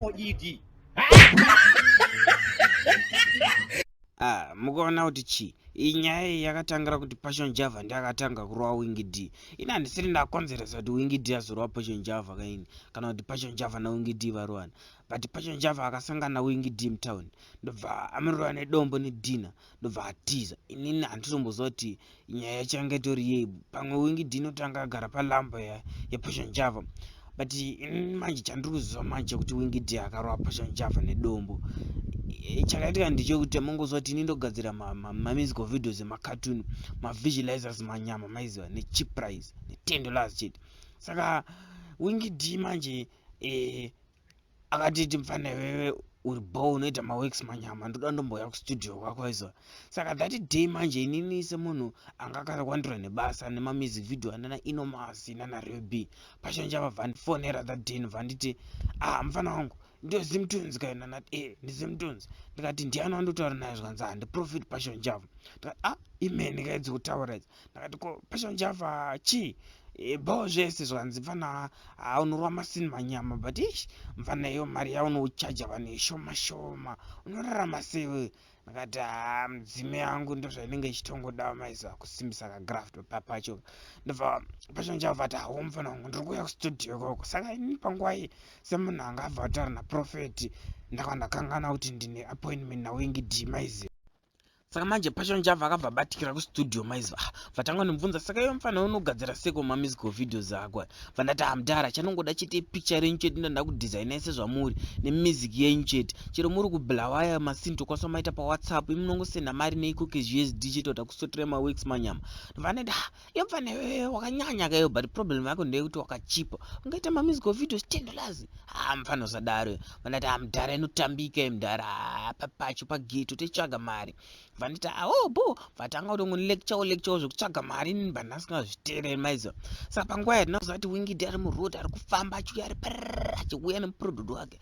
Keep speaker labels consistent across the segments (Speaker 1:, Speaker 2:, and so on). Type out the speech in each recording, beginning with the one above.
Speaker 1: ED. Ah, mukaona kuti chii iyi nyaya iyi yakatangira kuti passion java ndiakatanga kurova wingi d ini handisiri ndakonzeresa kuti wingi d azorova passion java kaini kana kuti passion java nawingi d varovana but passion java akasangana wingi d mutown ndobva amirova nedombo nedina ndobva atiza inini handitomboziva kuti nyaya yachanga itori yei pamwe wingidi inotanga agara palamba yapasha njava but inini manje chandiri kuziva manje kuti wingidi akarova pasha njava nedombo eh, chakaitika ndichekuti amongoziva kuti ini ndogadzira mamizical videos emacatoon mavisualizers manyama maiziva nechip price netendo las chete saka wingidi manje eh, akatiti mfana iwewe uri bo unoita maworks manyama ndoda ndombouya kustudio kwako izo saka that day manje inini semunhu anga akakwandura nebasa nemamusic video anana inomas nana rb pachange vabva ndifonera that day ndobva nditi ah mfana wangu ndiyo zimtunes kayo nana e eh, ndizimtunes ndikati ndiyani wandotaura naye zvikanzi handiprofit ah, passion java ndikati ah imene kaidzi kutaura idzi ndakati ko passion java chii eh, bho zvese zvanzi mfana ah, unorwa masini manyama but ish mfana iyo mari yaunochaja vanhu ishoma shoma unorarama sewe ndakati haa ah, mudzime yangu ndozvainenge ichitongoda maiziva kusimbisa kagraft papacho ndobva pacho ndichabva ati hawo mufana wangu ndiri kuuya kustudio ikoko saka ini panguva iyi semunhu anga abva kutaura naprofeti ndakava ndakangana kuti ndine appointment nawingi d maiziva saka manje pasho njava akabva batikira kustudio maiziva ah, vatanga nomubvunza saka iwe mufana unogadzira seko mamusical videos ako vandati hamdara ah, chanongoda chete ipicture renyu chete ndoda kudesigna sezvamuri nemusic yenyu chete chero muri kublawaya masin tokwanisa maita pawhatsapp imunongosenda mari neikoke zvisd chete kuda kusotra maworks manyama vanoda yobva newewe wakanyanya kayo but problem yako ndeyekuti wakachipa ungaita mamusical videos ten dollars haa ah, mfana usadaro vandati ah, mdhara inotambika mdhara ah, papacho pageto techitsvaga mari vanditi awo ah, bo vatanga kuti ngo lecture lecture zvekutsvaga mari inini bandasingazvitereri maizo saka panguva yatinakuziva kuti wingidi ari muroad ari kufamba achiuya ari parara achiuya nemuproduct wake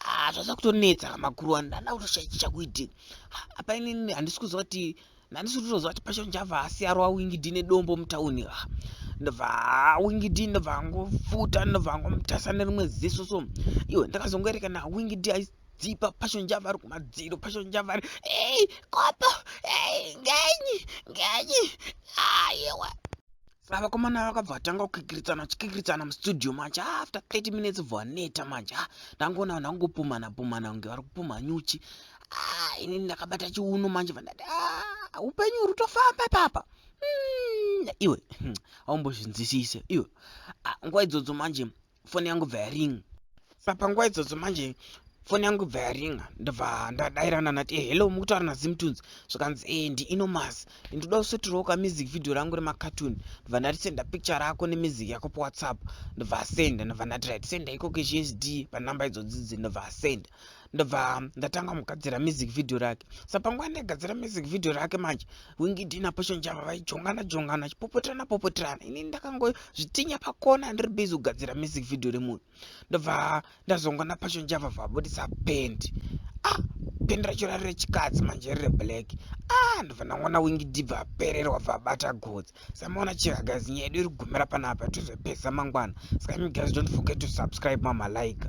Speaker 1: ah, zvaza kutonetsa makuru wani ndanda kutoshaichi chakuiti apa inini handisi kuziva kuti handisi kutoziva kuti pasho njava asi arova wingidi nedombo mutauni ah, ndobva ah, wingidi ndobva angofuta ndobva angomutasa nerimwe ziso so iwe ndakazongoerekana wingidi dzipa passion java ari kumadziro passion java ari ei kopo ei ngenyi ngenyi ayewa ah, Saka vakomana vakabva vatanga kukikiritsana vachikikiritsana mustudio manje ah, after 30 minutes bva vaneta manje ah, ndangoona vanhu vangopumhana pumhana kunge vari kupumha nyuchi ah, ini ndakabata chiuno manje vandati upenyu uri kutofamba ipapa hmm, iwe hmm, aumbozvinzwisise iwe nguva idzodzo manje foni yangu bva yaring sapanguva idzodzo manje foni yangu ibva yaringa ndobva ndadairana nati e eh, hello mukutaura nazimtunes zvikanzi e eh, ndiinomas ndinoda kusotiroka music video rangu remacartoon ndobva ndati senda picture rako nemusic yako powhatsapp ndobva asenda ndobva ndati right senda ikoko zvsd panumber idzodzidzi ndobva asenda ndobva ndatanga kugadzira music video rake sa panguva ndaigadzira music video rake manje wingidi naposho njava vaijongana jongana chipopoterana popoterana ini ndakangozvitinya pakona ndiri busy kugadzira music video remunhu ndobva ndazonga naposho njava vabudisa pend ah pend racho rari rechikadzi manje riri reblack ah ndobva ndangona wingidi bva apererwa bva abata godzi samaona chiragazi nyaya yedu iri kugumira panapa tozopesa mangwana saka imigaz don't forget to subscribe mamalike